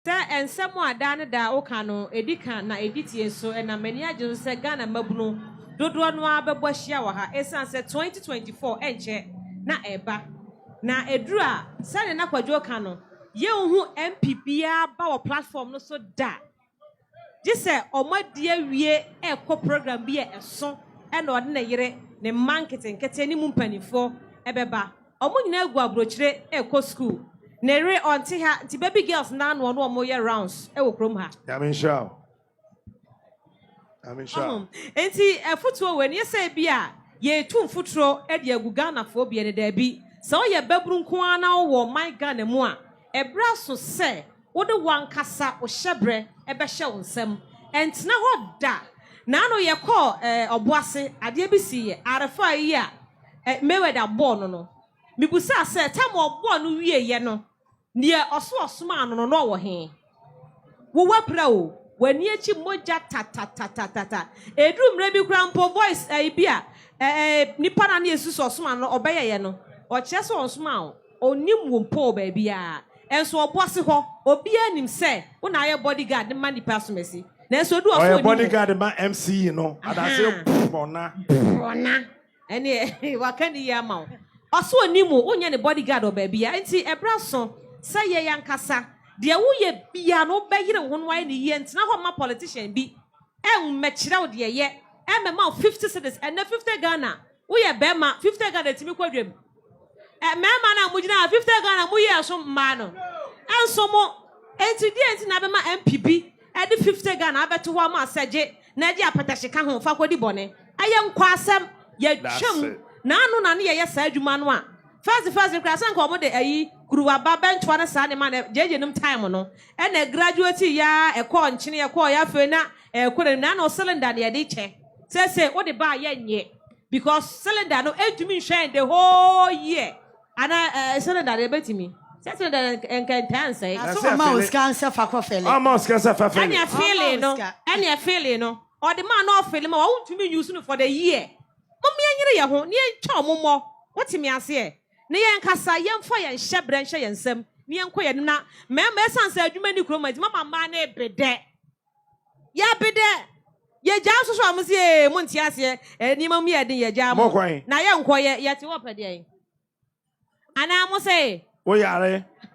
Sɛ nsɛm a daa ne daa woka no, ɛdi ka na ɛdi tie nso na m'ani agye so sɛ Ghana mmabunu dodoɔ no ara bɛbɔ ahyia wɔ ha ɛsiane sɛ 2024 ɛnkyɛ na ɛreba na ɛduru a sɛdeɛ na Kwadwo reka no yɛnhu MP biara ba wɔ platform no so da gye sɛ wɔadi awie rekɔ program bi a ɛso na ɔde ne yere, ne mma nketenkete ne mu mpanimfoɔ bɛba. Wɔn nyinaa agu aburokyire rekɔ sukuu. Ne yere, ɔnte ha, nti baby girls no ara na ɔne wɔn yɛ rounds wɔ kurom ha. Nyame nhyira wo. Nyame nhyira wo. Nti afutuo wei no, yɛ sɛ ebi a yɛretu mfuturo de agu Ghanafoɔ bi ani, daabi. Sɛ woyɛ babunu nko ara na wowɔ ɔman Ghana mu a, ɛberɛ aso sɛ wode w'ankasa wo hyɛberɛ bɛhyɛ wo nsam. Ɛntena hɔ da. Naano yɛkɔɔ eh, ɔbo ase, adeɛ bi siiɛ, arefa yi a eh, Mayweather bɔɔ no no. Mebusaa sɛ, time a ɔbɔɔ no wieeɛ no, deɛ ɔso ɔsomaa no no, na ɔwɔ he? Wo w'apira o, w'ani akyi mogya tatatatatata. Ɛduru mmerɛ bi koraa mpo, voice eh, bi a eh, eh, nipa no a na yɛsusu sɛ ɔsomaa no no, ɔbɛyɛeɛ no, ɔkyerɛ sɛ ɔnsomaa wo. Ɔnnim wo mpo wɔ baabiara. Nso ɔbo ase hɔ, obiara nim sɛ wo na ayɛ body guard ma nnipa asomasi. Nanso edu hɔ so ɔnnim wo. Ɔyɛ body guard ma MC no, adaseɛ borɔna. Borɔna. Ɛneɛ waka ne yie ama wo. Ɔse ɔnnim wo, wonyɛ ne body guard wɔ baabiara. Enti ɛberɛ aso sɛ yɛn ankasa, deɛ woyɛ biara no wobɛyere wo ho na woayɛ no yie. Ntena hɔ mma politician bi ɛmmɛkyerɛ wo deɛ yɛ, ɛmmɛma wo 50 cedis, ɛnnɛ 50 Ghana Woyɛ bɛɛma fifty Ghana tumi kɔ dwam ɛ mɛɛma no a mo gyina ha fifty Ghana mo yi ɛso mmaa no ɛnso mo enti deɛ enti na abɛma MPB ɛde fifty Ghana abɛto hɔ ama asɛgye na ɛde apɛtɛhye ka ho fa kɔ di bɔne ɛyɛ nkwasɛm yɛtwa mu na ano na ne yɛyɛ saa adwuma no a first first koraa sɛ nka wɔn de ayi kuruwa ba bɛntoa ne saa nneɛma na gyegye nom time no ɛna graduate yaa ɛkɔɔ nkyene ɛkɔɔ yɛ afei na ɛkɔ n'anim na ano cylinder na yɛde kyɛ. Sese wo de baa yɛ nyɛ because cylinder no entumi nhwɛn the whole year. Ana eh, cylinder de ebetumi. Sɛ cylinder de eh, nka ntaa nsɛe. Na so ɔma wo sika nsɛ fa kɔ fɛle. Ɔma wo sika nsɛ fa fɛle. Ɛne fɛle no, ɛne fɛle no. Ɔde maa na ɔfɛle ma wa wo ntumi use no for the year. Mom yɛn nyere yɛn ho na yɛn twa ɔmo mmɔ. Wo te me aseɛ? Na yɛn kasa yɛn fa yɛn hyɛ brɛ nhyɛ yɛn nsam na yɛn kɔ yɛn anim na mɛɛma ɛsan sɛ adwuma ni kurom nti mama mmaa no ebe dɛ. Yɛpe dɛ yegyaa nso so a, mo se ee, mo nte aseɛ, nneɛma mu yɛ den, yɛgyaa mo, na yɛnkɔyɛ, yɛte hɔ pɛdeɛn? Anaa mo se. Woyare.